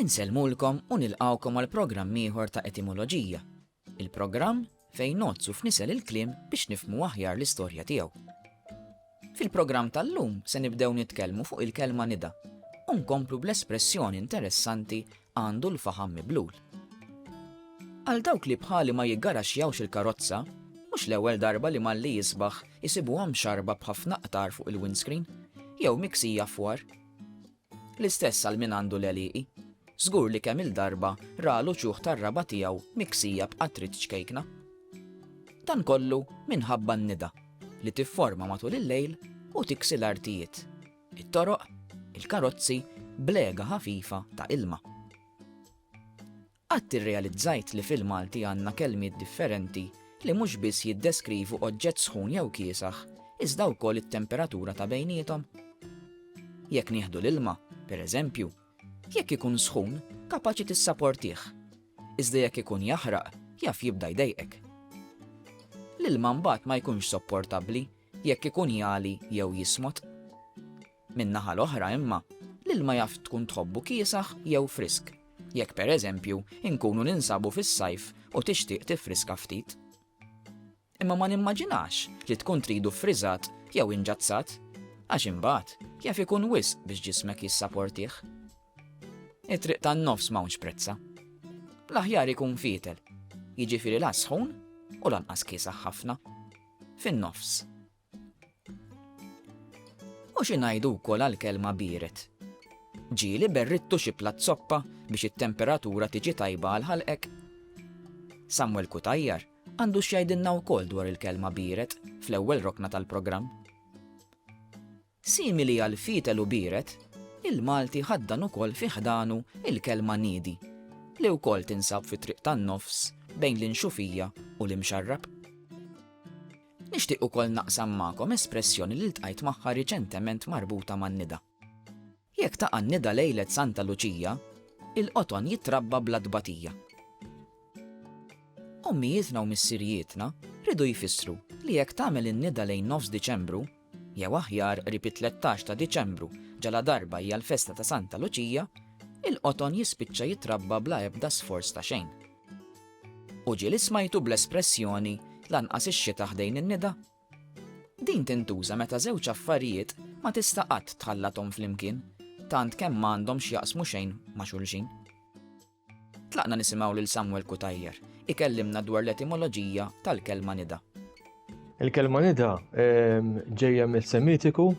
Insellmulkom u nilqgħukom għal programm ieħor ta' Etimoloġija, il-programm fejn ngħoddsu f'nisel il-kliem biex nifhmu aħjar l-istorja tiegħu. Fil-programm tal-lum se nibdew nitkellmu fuq il-kelma nida u nkomplu bl-espressjoni interessanti għandu l-faħam miblul. Għal dawk li bħali ma jiggaraxxjawx il-karozza, mhux l-ewwel darba li malli jisbaħ isibuhom xarba b'ħafna qtar fuq il-windscreen jew miksija fwar. L-istess għal min għandu l-għelieqi. Żgur li kemm-il darba ra l-uċuħ tar-raba' tiegħu miksija b'qatrit ċkejkna. Dan kollu minħabba n-nida li tifforma matul il-lejl u tiksi l-artijiet, it-toroq, il-karozzi b'lega ħafifa ta' ilma. Qatt irrealizzajt li fil-Malti għandna kelmiet differenti li mhux biss jiddeskrivu oġġett sħun jew kiesaħ, iżda wkoll it-temperatura ta' bejniethom? Jekk nieħdu l-ilma, per eżempju, jekk ikun sħun, kapaċi tissaportih, iżda jekk ikun jaħraq, jaf jibda jdejqek. L-ilma mbagħad ma jkunx sopportabbli jekk ikun jagħli jew jismod. Min-naħa l-oħra imma, l-ilma jaf tkun tħobbu kiesaħ jew frisk, jekk per eżempju inkunu ninsabu fis-sajf u tixtieq tiffriska ftit. Imma ma nimmaġinax li tkun tridu ffriżat jew inġazzat, għax imbagħad jaf ikun wisq biex ġismek jissaportih. It-triq tan-nofs m'hawnx prezza. L-aħjar ikun fietel, jiġifieri la sħun u lanqas kiesaħ ħafna. Fin-nofs. U xi ngħidu wkoll għall-kelma biered? Ġieli berridtu xi platt zoppa biex it-temperatura tiġi tajba għal ħalqek? Samuel Cutajar għandu x'jgħidilna wkoll dwar il-kelma biered fl-ewwel rokna tal-programm. Simili għal fietel u biret, il-Malti ħaddan ukoll fi ħdanu l-kelma niedi, li wkoll tinsab fit-triq tan-nofs bejn l-Inxufija u l-Imxarrab. Nixtieq ukoll naqsam magħkom espressjoni li ltqajt magħha riċentement marbuta man-nida. Jekk taqa' n-nida lejlet Santa Luċija, il-qoton jitrabba bla tbatija. Ommijietna u missirijietna riedu jfissru li jekk tagħmel in-nida lejn nofs Diċembru, jew aħjar qrib it-tlettax ta' Diċembru ġaladarba hija l-festa ta' Santa Luċija, il-qoton jispiċċa jitrabba bla ebda sforz ta' xejn. U ġieli smajtu bl-espressjoni lanqas ix-xita ħdejn in-nida? Din tintuża meta żewġ affarijiet ma tista' qatt tħallathom flimkien, tant kemm ma għandhom x'jaqsmu xejn ma' xulxin. Tlaqna nisimgħu lil Samuel Cutajar ikellimna dwar l-etimoloġija tal-kelma nida. Il-kelma nida ġejja mis-Semitiku,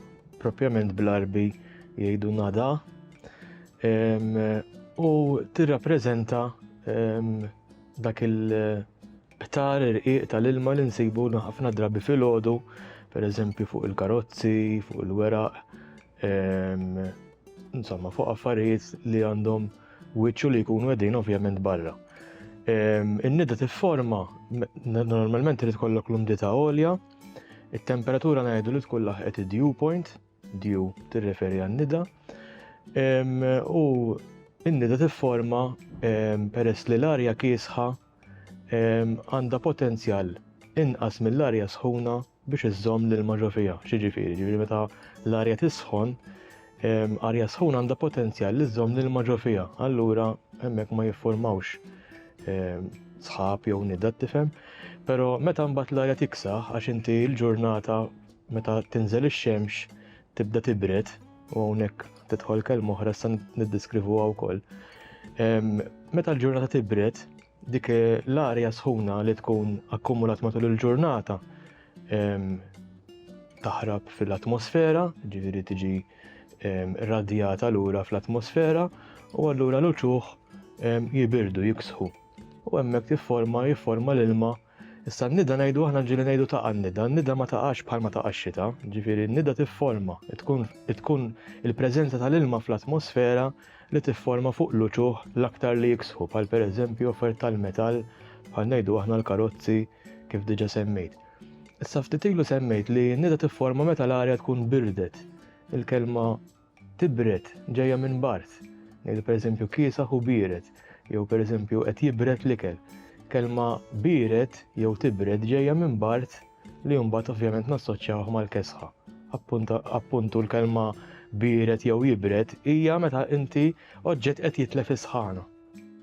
propjament bl-Għarbi jgħidu nada, u tirrappreżenta dak il- Ħtar irqiq tal-ilma li nsibu ħafna drabi filgħodu, pereżempju fuq il-karozzi, fuq il-weraq, ehm, insomma fuq affarijiet li għandhom wiċċu li jkunu għedin ovvjament barra. Ehm, in-nida tifforma normalment irid kollok l-umdità għolja, it-temperatura ngħidu li tkun laħqet id-dew point, dew tirreferi għan-nida, ehm, u in-nida tifforma ehm, peress li l-arja kiesħa għandha potenzjal inqas mill-arja sħuna biex iżżomm l-ilma ġo fiha. X'jiġifieri? Ġifieri meta l-arja tisħon, arja sħuna għandha potenzjal li żżomm l-ilma ġo fiha. Allura hemmhekk ma jiffurmawx sħab jew nida tifhem, però meta mbagħad l-arja tiksaħ għax inti l-ġurnata meta tinżel ix-xemx tibda tibred u hawnhekk tidħol kelma oħra sa niddeskrivuha wkoll. Meta l-ġurnata tibred, dik l-arja sħuna li tkun akkumulat matul il-ġurnata taħrab fil-atmosfera, ġifieri tiġi radjata lura fl-atmosfera u allura l-uċuħ jibirdu jiksħu. U hemmhekk tifforma jifforma l-ilma Issa n-nida ngħidu aħna ġieli ngħidu taqa' n-nida, n-nida ma taqax bħal ma taqa' x-xita, ġifieri n-nida tifforma, tkun tkun il-preżenza tal-ilma fl-atmosfera li tifforma fuq l-uċuħ l-aktar li jiksħu bħal pereżempju offert tal-metall bħal ngħidu aħna l-karozzi kif diġà semmejt. Issa ftit ilu semmejt li n-nida tifforma meta l-arja tkun birdet. Il-kelma tibred ġejja minn bard, ngħidu pereżempju kiesaħ u biered, jew pereżempju qed jibred l-ikel. Kelma biered jew tibred ġejja minn bard li mbagħad ovvjament nassoċjawh mal-kesħa. Appuntu l-kelma biered jew jibred hija meta inti oġġett qed jitlef is-sħana.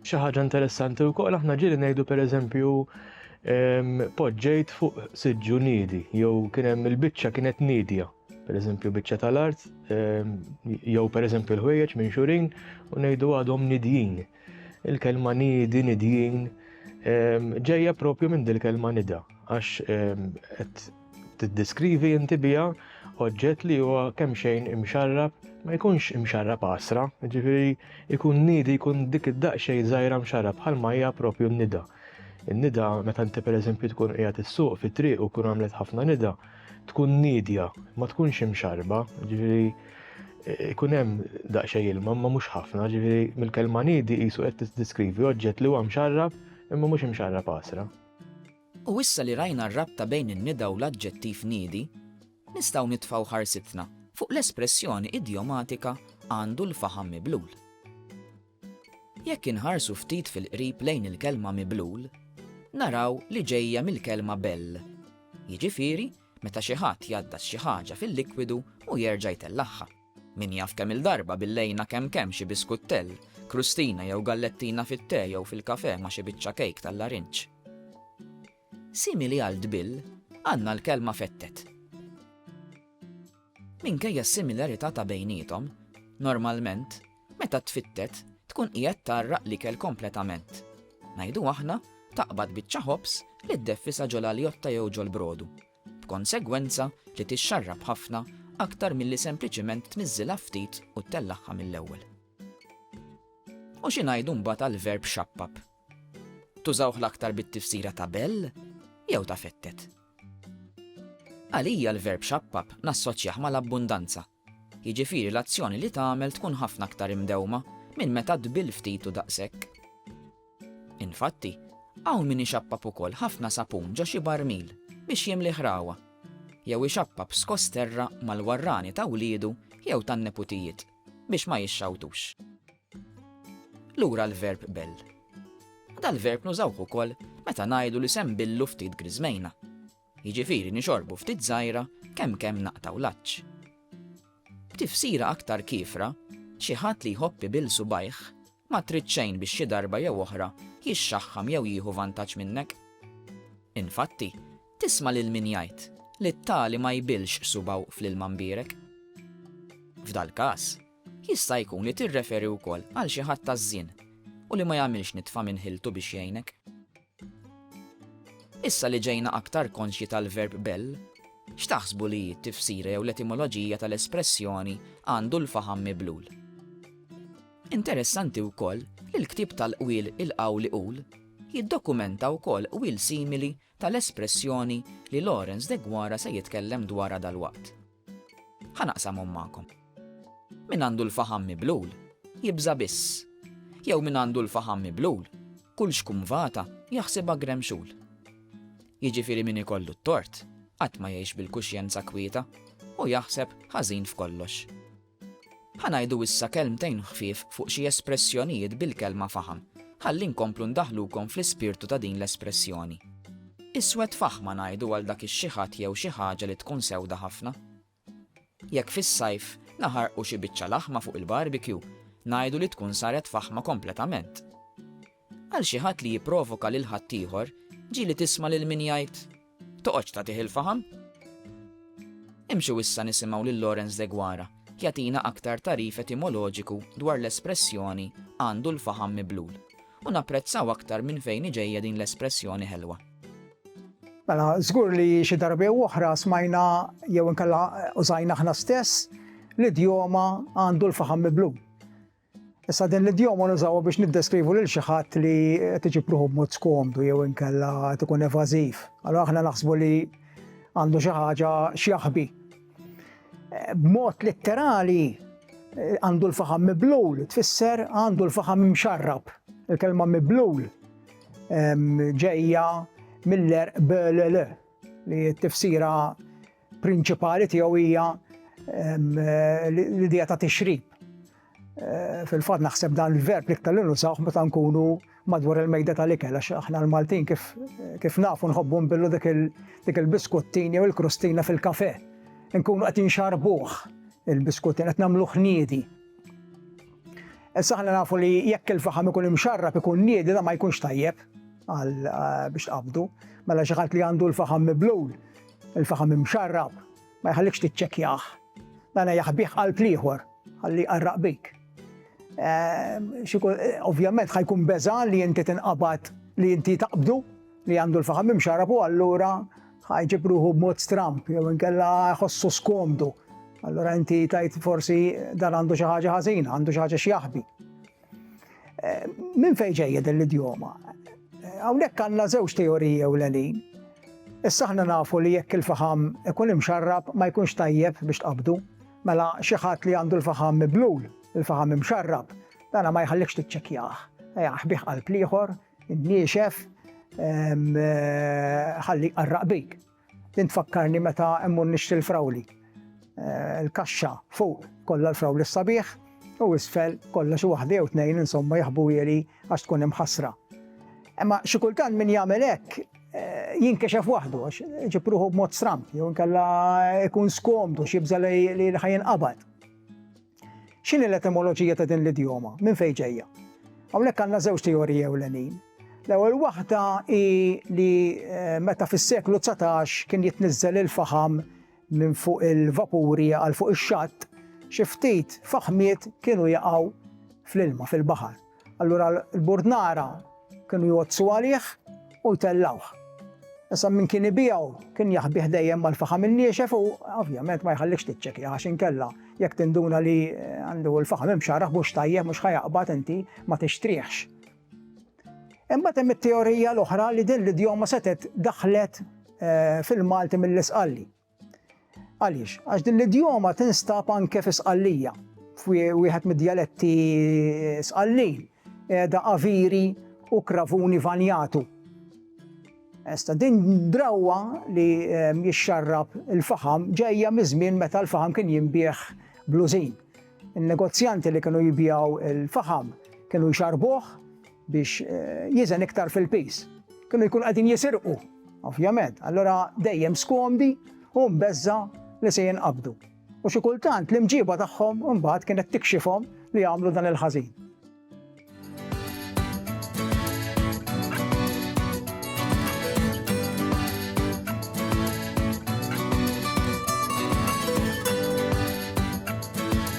Xi ħaġa interessanti wkoll aħna ġieli ngħidu pereżempju poġġejt fuq siġġu niedi jew kien hemm il-biċċa kienet niedja. per eżempju biċċa tal-art, ehm, jew per eżempju l-ħwejjeġ minn xurin u ngħidu għadhom nidjin. Il-kelma nidi nidjin ehm, ġejja propju minn dil-kelma nida, għax ehm, qed tiddeskrivi inti biha oġġett li huwa kemm xejn imxarrab, ma jkunx imxarrab għasra, ġifieri jkun nidi jkun dik id-daqxej żgħira mxarrab bħal ma hija propju n-nida. In-nida meta inti pereżempju tkun qiegħed issuq fit-triq u kun għamlet ħafna nida, tkun nidja, ma tkunx imxarba, ġifieri eh, ikun hemm daqsxejn ilma ma mhux ħafna, ġifieri mill-kelma nidi qisu qed tiddeskrivi oġġett li huwa mxarrab imma mhux imxarrab għasra. U issa li rajna r-rabta bejn in-nida u l-aġġettiv niedi, nistgħu nitfgħu ħarsitna fuq l-espressjoni idjomatika għandu l-faħam miblul. Jekk inħarsu ftit fil-qrib lejn il-kelma miblul, naraw li ġejja mill-kelma bell, jiġifieri meta xi ħadd jgħaddas xi ħaġa fil-likwidu u jerġa' jtellagħha. Min jaf kemm-il darba billejna kemm kemm xi biskuttell, krustina jew gallettina fit-te jew fil-kafè ma' xi biċċa kejk tal-larinġ. Simili għal tbill, għandna l-kelma fettet. Minkejja s-similarità ta' bejniethom, normalment, Meta tfittet, tkun qiegħed tgħarraq l-ikel kompletament. Ngħidu aħna, taqbad biċċa ħobż li ddeffisha ġol-għaljotta jew ġol-brodu, b'konsegwenza li tixxarrab ħafna aktar milli sempliċiment tniżżilha ftit u ttellagħha mill-ewwel. U xi ngħidu mbagħad għall-verb xappab? Tużawh l-aktar bit-tifsira ta' bell jew ta' fettet. Għalija l-verb xappab nassoċjah mal-abbundanza Jiġifieri l-azzjoni li tagħmel tkun ħafna aktar imdewma minn meta tbill ftit u daqshekk. Infatti, hawn min ixappab ukoll ħafna sapun ġo xi barmil biex jimlih ragħwa, jew ixappab skoss terra mal-warrani ta' wliedu jew tan-neputijiet biex ma jixxawtux. Lura l-verb bell. Dal-verb nużawh ukoll meta ngħidu li se nbillu ftit griżmejna. Jiġifieri nixorbu ftit żgħira kemm kemm naqtgħu l-għatx. B'tifsira aktar kiefra, xi ħadd li jħobb ibil subgħajh ma trid xejn biex xi darba jew oħra jixxaħħam jew jieħu vantaġġ minnek. Infatti, tisma' lil min jgħid li t-tali ma jbilx subgħu fl-ilma mbierek. F'dal-każ, jista' jkun li tirreferi wkoll għal xi ħadd taż-żien u li ma jagħmilx nitfa minn ħiltu biex jgħinek. Issa li ġejna aktar konxji tal-verb bell, x'taħsbu li hi t-tifsira jew l-etimoloġija tal-espressjoni għandu l-faħam miblul? Interessanti wkoll li l-ktieb tal-qwiel Il-Qawl Iqul jiddokumenta wkoll qwiel simili tal-espressjoni li Lawrence Deguara se jitkellem dwarha dalwaqt. Ħa naqsamhom magħkom. Min għandu l-faħam miblul, jibża' biss. Jew min għandu l-faħam miblul, kull xkumvata jaħsibha gremxul. Jiġifieri min ikollu t-tort qatt ma jgħix bil-kuxjenza kwieta u jaħseb ħażin f'kollox. Ħa ngħidu issa kelmtejn ħfief fuq xi espressjonijiet bil-kelma faħam, ħalli nkomplu ndaħħlukom fl-ispirtu ta' din l-espressjoni. Iswed faħma ngħidu għal dak ix-xi ħadd jew xi ħaġa li tkun sewda ħafna. Jekk fis-sajf naħarqu xi biċċa laħma fuq il-barbecue, ngħidu li tkun saret faħma kompletament. Għal xi ħadd li jipprovoka lil ħaddieħor, ġieli tisma' lil min jgħid, Toqgħodx tagħtih il-faħam! Imxu issa nisimgħu lil Lawrence Deguara jagħtina aktar tagħrif etimoloġiku dwar l-espressjoni għandu l-faħam miblul u napprezzaw aktar minn fejn hi ġejja din l-espressjoni ħelwa. Mela, żgur li xi darba jew oħra smajna jew inkella użajna aħna stess li djoma għandu l-faħam miblul. Issa din l-idjoma nużawha biex niddeskrivu lil xi ħadd li qed iġib ruħu b'mod skomdu jew inkella qed ikun evażiv. Allura aħna naħsbu li għandu xi ħaġa x'jaħbi. B'mod litterali għandu l-faħam miblul, tfisser għandu l-faħam mxarrab. Il-kelma miblul ġejja mill-erq li t-tifsira prinċipali tiegħu hija l-idea ta' tixrib. Eh, fil-fatt naħseb dan il-verb li ktar nużawh meta nkunu madwar il-mejda tal-ikel, għax aħna l-Maltin kif, kif nafu nħobbu nbillu dik il-biskuttin jew il-krustina fil-kafe. Nkunu qed inxarbuh il-biskuttin qed nagħmlu ħniedi. Issa aħna nafu li jekk il-faħam ikun imxarrab ikun niedi da ma jkunx tajjeb għal eh, biex qabdu, mela xi ħadd li għandu l-faħam miblul Il-faħam imxarrab ma jħallikx tiċċekkjah. Dan jaħbih qalb l-ieħor ħalli jqarraq bik. Ovvjament ħajkun beża li inti tinqabad li inti taqbdu li għandu l-faħam imxarab u allura ħajġib ruħu b'mod stramp jew inkella ħossu skomdu. Allura inti tajt forsi dan għandu xi ħaġa ħażina, għandu xi ħaġa x'jaħbi. Eh, minn fejn ġejja din l-idjoma? Eh, hawnhekk għandna żewġ teoriji ewlenin. Issa aħna nafu li jekk il-faħam ikun imxarrab ma jkunx tajjeb biex tqabdu. Mela xi ħadd li għandu l-faħam miblul, il-faħam imxarrab, dana ma jħallikx tiċċekjah. Jaħbih qalb liħor, niexef, eh, ħalli qarraq bik. Din tfakkarni meta emmur nixtri l-frawli. Eh, il-kaxxa fuq kollha l-frawli s-sabiħ u isfel kollha xi waħda jew tnejn insomma jaħbu jeri għax tkun imħassra. Imma xi kultant min jagħmel hekk eh, jinkexef waħdu għax ġipruħu b'mod stramp jew inkella ikun skomdu xi jibża' li ħajin qabad. X'inhi l-etimoloġija ta' din l-idjoma? Minn fejn ġejja? Hawnhekk għandna żewġ teoriji ewlenin. L-ewwel waħda hi li meta fis-seklu dsatax kien jitniżżel il-faħam minn fuq il-vapuri għal fuq ix-xatt, xi ftit faħmiet kienu jaqgħu fl-ilma, fil-baħar. Allura l-bord nara kienu jgħoddsu għalih u jtellgħuh. Issa min kien ibiegħu kien jaħbih dejjem mal-faħam in-niexef u ovvjament ma jħallikx tiċċekja għax inkella jekk tinduna li eh, għandu l-faħam imxarraħ mhux tajjeb mhux ħajaqbad inti ma tixtrieħx. Imbagħad hemm it-teorija l-oħra li din l-idjoma setet daħlet eh, fil-Malti mill-isqalli. Għaliex? Għax din l-idjoma tinstab anke fi Sqallija, wieħed mid-djaletti Sqallin, qiegħda aviri u kravuni vanjatu. Esta din drawwa li ehm, jixxarrab il-faħam ġejja miż-żmien meta l-faħam kien jinbieħ blużin. Il-negozjanti li kienu jibjaw il-faħam kienu jxarbuh biex jiżen iktar fil-piż. Kienu jkunu qegħdin jisirqu, ovvjament, allura dejjem skomdi u mbeżża li se jinqabdu. U xi kultant l-imġiba tagħhom imbagħad kienet tikxifhom li jagħmlu dan il-ħażin.